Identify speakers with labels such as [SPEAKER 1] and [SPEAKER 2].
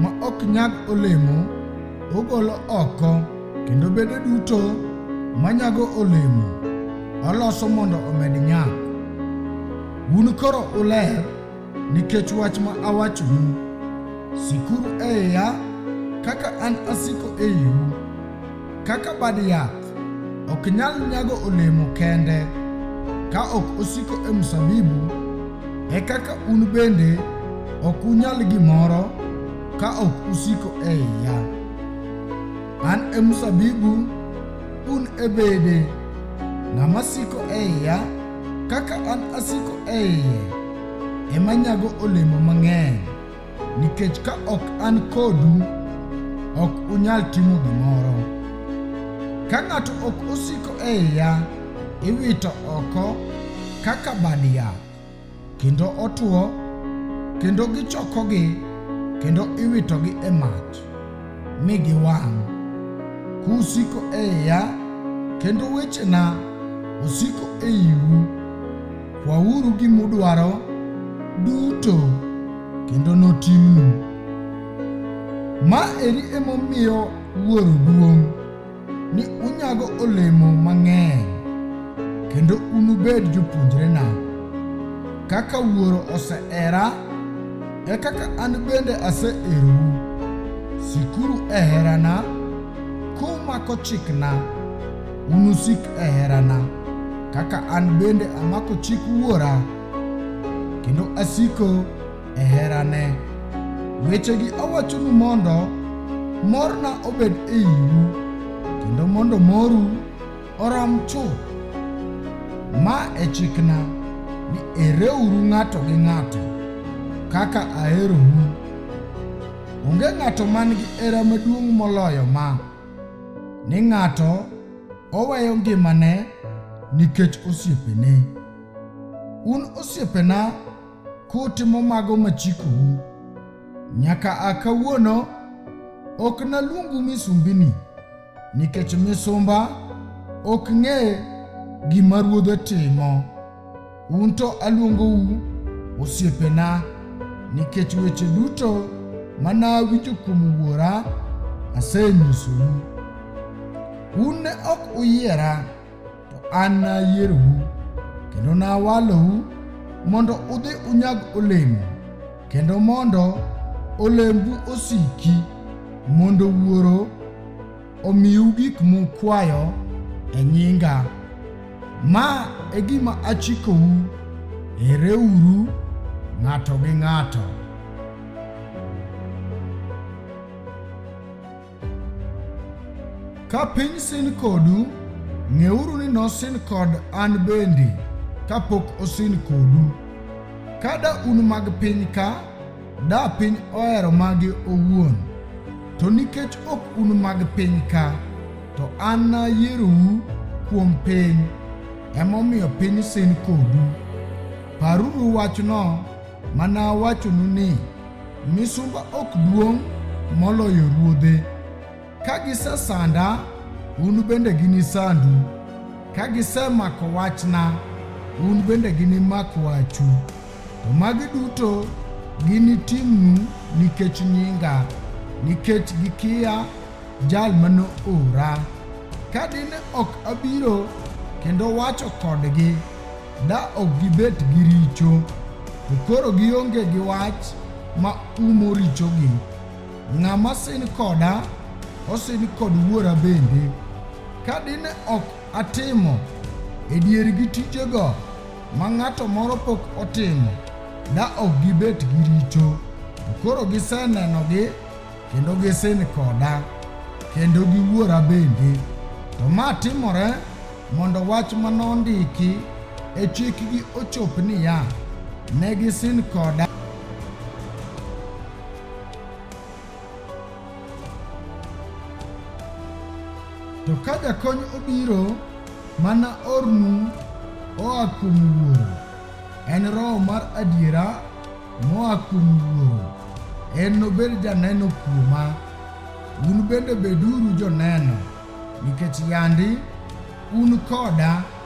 [SPEAKER 1] ma ok nyag olemo, ogolo oko, kendo bede duto manyago olemo, oloso mondo omed nyak. Un koro uler nikech wach ma awachonu. Sikuru e iya kaka an asiko e iu, kaka bad yath. Ok nyal nyago olemo kende ka ok osiko e mzabibu, e kaka un bende ok unyal gimoro ka ok usiko e iya. An e mzabibu, un e bede. Ng'ama siko e iya kaka an asiko e iye, ema nyago olemo mang'eny. Nikech ka ok an kodu, ok unyal timo gimoro. Ka ng'ato ok osiko e iya, iwito oko kaka bad yath, kendo otwo, kendo gichokogi, kendo iwitogi e mach, mi giwang'. Kusiko e iya, kendo wechena osiko e iu, Kwauru gima udwaro duto kendo notimnu. Ma eri emomiyo Wuoro duong' ni unyago olemo mang'eny kendo unubed jopuonjrena. Kaka Wuoro osehera, e kaka an bende aseherou. Sikuru e herana kumako chikna. Unusik e herana, kaka an bende amako chik Wuora, kendo asiko e herane. Wechegi awachonu mondo morna obed e iu, kendo mondo moru orom chuth. Ma e chikna ni ereuru ng'ato gi ng'ato kaka aherou. Onge ng'ato man gi hera maduong' moloyo ma. ni ng'ato oweyo ngimane nikech osiepene. Un osiepena kutimo mago machikou, nyaka a kawuono ok naluongu misumbini, nikech misumba ok ng'e gima ruodhe timo. Un to aluongou osiepena, nikech weche duto ma nawinjo kuom Wuora asenyisou. Un ne ok uyiera, to an nayierou, kendo nawalou mondo udhi unyag olemo, kendo mondo olembu osiki, mondo Wuoro omiu gik mukwayo e nyinga. Ma e gima achikou, hereuru ng'ato gi ng'ato. Ka piny sin kodu, ng'euru ni nosin kod an bende kapok osin kodu. Kada un mag piny ka, Da piny ohero mage owuon, to nikech ok un mag piny ka, to an nayierou kuom piny, emomiyo piny sin kodu. Paruru wachno mana wachonu ni, misumba ok duong' moloyo ruodhe. Ka gisesanda, un bende ginisandu. Ka gisemako wachna, un bende ginimak wachu. To magi duto ginitimnu nikech nyinga, nikech gikiya jal ma noora. Ka dine ok abiro kendo wacho kodgi, da ok gibet gi richo, to koro gionge gi wach ma umo richogi. Ng'ama sin koda osin kod Wuora bende. Ka dine ok atimo e diergi tijego ma ng'ato moro pok otimo, da ok gibet gi richo. To koro gisenenogi kendo gisin koda, kendo gi Wuora bende. To ma timore mondo wach ma nondiki e chikgi ochop niya, ne gisin koda. To ka jakony obiro, mana ornu oa kuom Wuoro. En Roho mar adiera moa kuom Wuoro. En nobed janeno kuoma. Un bende beduru joneno, nikech yandi un koda.